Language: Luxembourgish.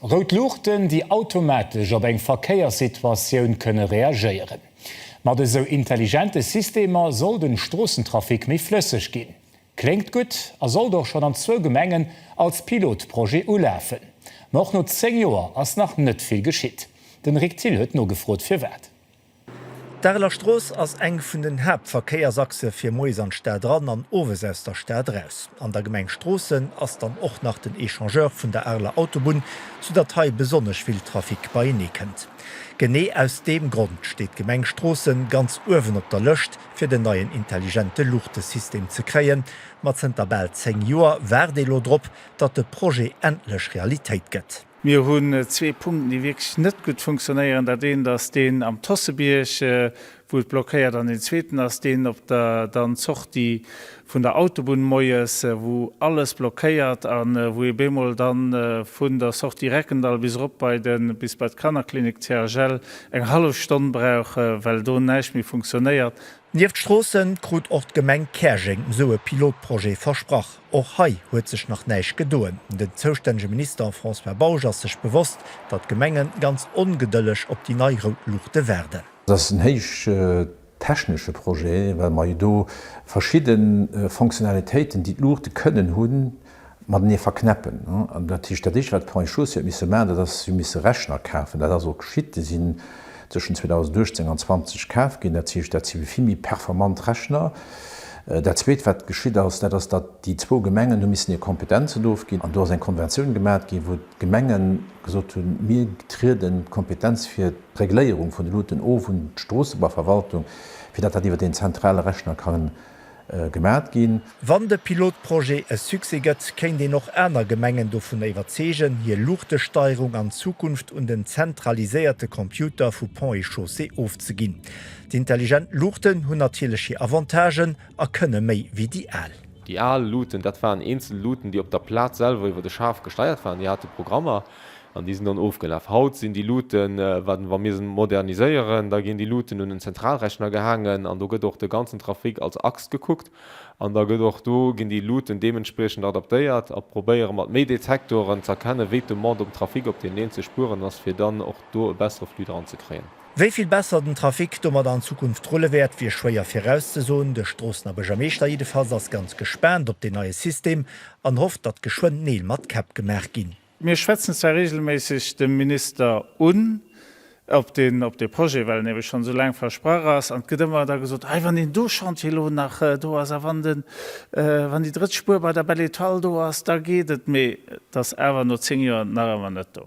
Rout Luuchten, déi automatesch op eng Verkéierssituatioun kënne reagéieren. Mat esou intelligente Systemer soll den Stroossentrafic méi flësseg ginn. Kléngt gutt a sollt och schonn an zwou Gemengen als Pilotprojet ulafen. Ma och no 10 Joer ass nach net vill geschitt. Den Rick Thill huet nogefrot firwat. D'Areler Strooss ass eng vun den Haaptverkéiersachse fir moies an d'Stad eran an owes aus der Stad eraus. An der Gemeng Stroossen ass dann och nach den Echangeur vun der Areler Autobunn, sou datt hei besonnesch vill Trafic beienee kënnt. Genee aus deem Grond steet d'Gemeng Stroossen ganz uewen op der Lëscht fir den neien intelligente Luuchtesystem ze kréien. Ma zënter bal 10 Joer waart ee lo drop, datt de Projet endlech Realitéit gëtt. Mir hunn zwee Punkten, déi wierklech net gutt funktionéieren. Dat eent ass deen am Tossebierg, wou et blockéiert, an deen zweeten ass deen op der dann Sortie vun der Autobunn moies, wou alles blockéiert a wou ee bemol dann vun der Sortie Reckendall bis erop bei de bis bei d'Kannerklinik CHL eng hallef Stonn brauch, well do näischt méi funktionéiert. Nieft Stroossen krut och d'Gemeng Käerjeng esou e Pilotprojet versprach. Och hei huet sech nach näischt gedoen. Den zoustännege Minister François Bausch ass sech bewosst, datt d'Gemenge ganz ongedëlleg op déi nei rout Luuchte waarden. Et ass en héich technesche Projet, well mer jo do verschidde Fonctionnalitéiten, déi d'Luuchte kënnen hunn, matenee verknäppen. An dat heescht, dat Éischte, wat d'Points chaussés huet misse maachen, dat ass, si hu misse Rechner kafen. Dat ass och geschitt. Déi sinn tëschent 2018 an 20 kaf ginn. Dat heescht, dat si vill méi performant Rechner. Dat Zweet, wat geschitt ass, dat ass, datt déi zwou Gemengen hu missen hir Kompetenzen do ofginn. An do ass eng Konventioun gemat ginn, wou d'Gemengen gesot hunn, Mir trieden d'Kompetenz fir d'Regléierung vun de Loten of un d'Stroossebaverwaltung, fir datt dat iwwer deen zentrale Rechner ka gemat ginn. Wann de Pilotprojet e Succès gëtt, kéint een och aner Gemengen dovun iwwerzeegen, hir Luuchtesteierung an Zukunft un den zentraliséierte Computer vu Ponts et Chaussées ofzeginn. D'Intelligent Luuchten hunn natierlech hir Avantagen a kënne méi wéi déi al. Déi al Luuten, dat waren eenzel Luuten, déi op der Plaz selwer iwwer de Schaf gesteiert waren, déi hate Programmer. An déi sinn dann ofgelaf. Haut sinn déi Luuten, wat, wa mir se moderniséieren, da ginn déi Luuten un en Zentralrechner gehaangen an do gëtt och de ganzen Trafic als Axt gekuckt an da gëtt och do, ginn déi Luuten deementspriechend adaptéiert a probéiere mat méi Detektoren z'erkennen, wéi d'Demande um Trafic op deenen eenzele Spueren ass, fir dann och do e bessere Flux dran ze kréien. Wéi vill besser den Trafic domadder an Zukunft rulle wäert, wier schwéier virauszesoen. De Stroossener Buergermeeschter jiddefalls ass ganz gespaant op deen neie System an hofft, datt geschwënn Neel mat Käpp gemaach ginn. Mir schwätzen zwar reegelméisseg de Minister un, ob deen op dee Projet, well en ebe schonn esou laang versprach ass, an et gëtt ëmmer da gesot, Hei, wann deen do Chantier elo nach do ass a wann den, wann déi drëtt Spuer bei der Belle Etoile do ass, da geet et. Mee et ass awer no zéng Joer nach ëmmer net do.